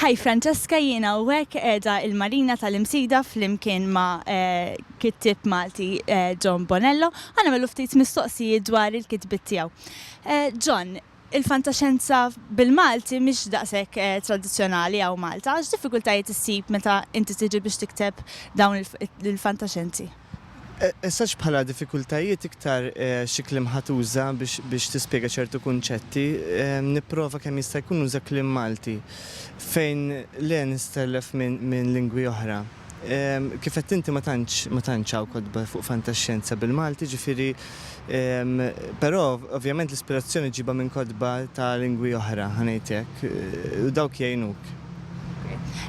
Hi Francesca, jiena hawnhekk qiegħda il-Marina tal-Imsida flimkien ma' eh, kittib Malti eh, John Bonello. Għana melu ftit mistoqsijiet dwar il-kitbit tiegħu. Eh, John, il-fantaxenza bil-Malti mhix daqshekk tradizzjonali għaw Malta, għax diffikultajiet issib meta inti tiġi biex tikteb dawn il-fantaxenzi. Eżatt bħala diffikultajiet iktar xi kliem ħa tuża biex tispjega ċertu kunċetti, nipprova kemm jista' jkun nuża kliem Malti, fejn le nistellef minn lingwi oħra. Kif għedt inti ma tantx hawn kotba fuq fantaxxjenza bil-Malti, ġifieri Però, ovvjament l-ispirazzjoni ġġibha minn kotba ta' lingwi oħra, ħa ngħid hekk, u dawk jgħinuk.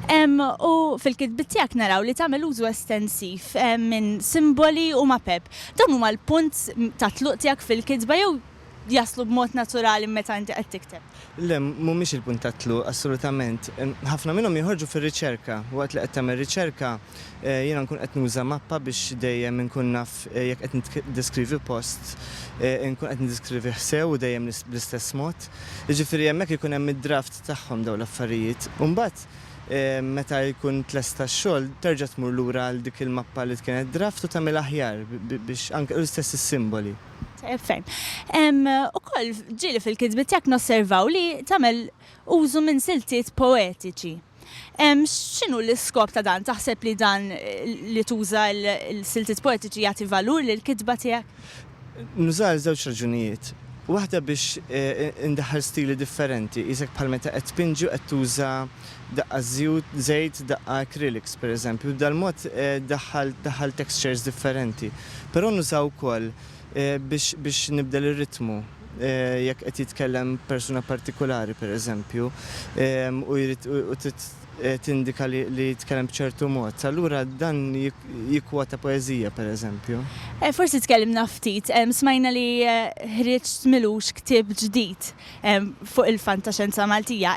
U fil-kitbiet tiegħek naraw li tagħmel użu estensiv minn simboli u mapep. Dawn huma l-punt tat-tluq tiegħek fil-kitba jew jaslu b'mod naturali meta inti qed tikteb? Le, mhumiex il-punt tat-tluq, assolutament. Ħafna minnhom jinħorġu fir-riċerka. Waqt li qed tagħmel riċerka, jiena nkun qed nuża mappa biex dejjem inkun naf jekk qed niddeskrivi post, inkun qed niddeskrivih sew u dejjem bl-istess mod. Jiġifieri hemmhekk ikun hemm id-draft tagħhom dawn l-affarijiet. U mbagħad meta jkun tlesta x-xogħol, terġa' tmur lura għal dik il-mappa li kienet draft u tagħmilha aħjar biex anke l-istess is-simboli. Ferm. Hemm ukoll ġieli fil-kitbiet tiegħek nosservaw li tagħmel użu minn siltiet poetiċi. X'inhu l-iskop ta' dan? Taħseb li dan li tuża l-siltiet poetiċi jagħti valur lill-kitba tiegħek? Nuża għal żewġ raġunijiet. Waħda biex indaħħal stili differenti, qisek bħal meta qed tpinġi u qed tuża daqqa żjut, żejt, daqqa acrylics pereżempju, b'dan il-mod daħħalt daħħalt textures differenti. Però nuża wkoll biex biex nibdel ir-ritmu jekk qed jitkellem persuna partikulari pereżempju u jrid u trid tindika li li jitkellem b'ċertu mod. Allura dan jikkwota poeżija pereżempju. Forsi tkellimna ftit, smajna li ħriġt m'ilux ktieb ġdid. fuq il-fantaxenza Maltija.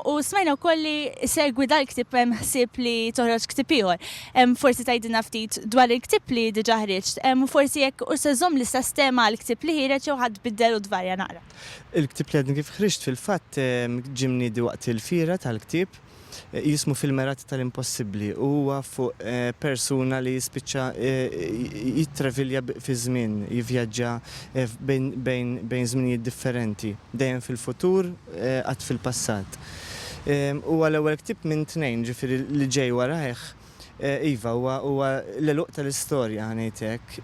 U smajna wkoll li segwi dal-ktieb hemm ħsieb li toħroġ ktieb ieħor. Forsi tgħidilna ftit dwar il-ktieb li diġà ħriġt, u forsi jekk hux se żżomm l-istess tema għall-ktieb li ħiereġ jew ħadd biddel u tvarja naqra. Il-ktieb li għadni kif ħriġt fil-fatt ġie mniedi waqt il-fiera tal-ktieb jismu fil-merati tal-impossibbli u huwa fuq persuna li jispiċċa jittravilja fiż-żmien, jivvjaġġa bejn żminijiet differenti, dejjem fil-futur, qatt fil-passat. Huwa l-ewwel ktieb minn tnejn, ġifieri li ġej warajh. Iva, huwa l-għeluq tal-istorja, ħa ngħid hekk.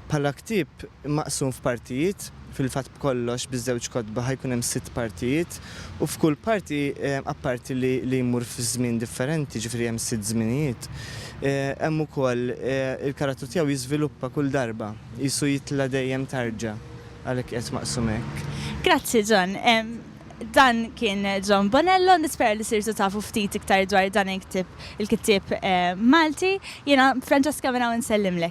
Bħala ktieb maqsum f'partijiet, fil-fatt b'kollox biż-żewġ kotba ħa jkun hemm sitt partijiet u f'kull parti, apparti li jmur f'żmien differenti, jiġifieri hemm sitt żminijiet, hemm ukoll il-karattru tiegħu jiżviluppa kull darba, qisu jitla' dejjem tarġa', għalhekk qiegħed maqsum hekk. Grazzi John. Dan kien John Bonello, nispera li sirtu tafu ftit iktar dwar dan il-ktieb il-kittieb Malti. Jiena Francesca minn hawn insellimlek.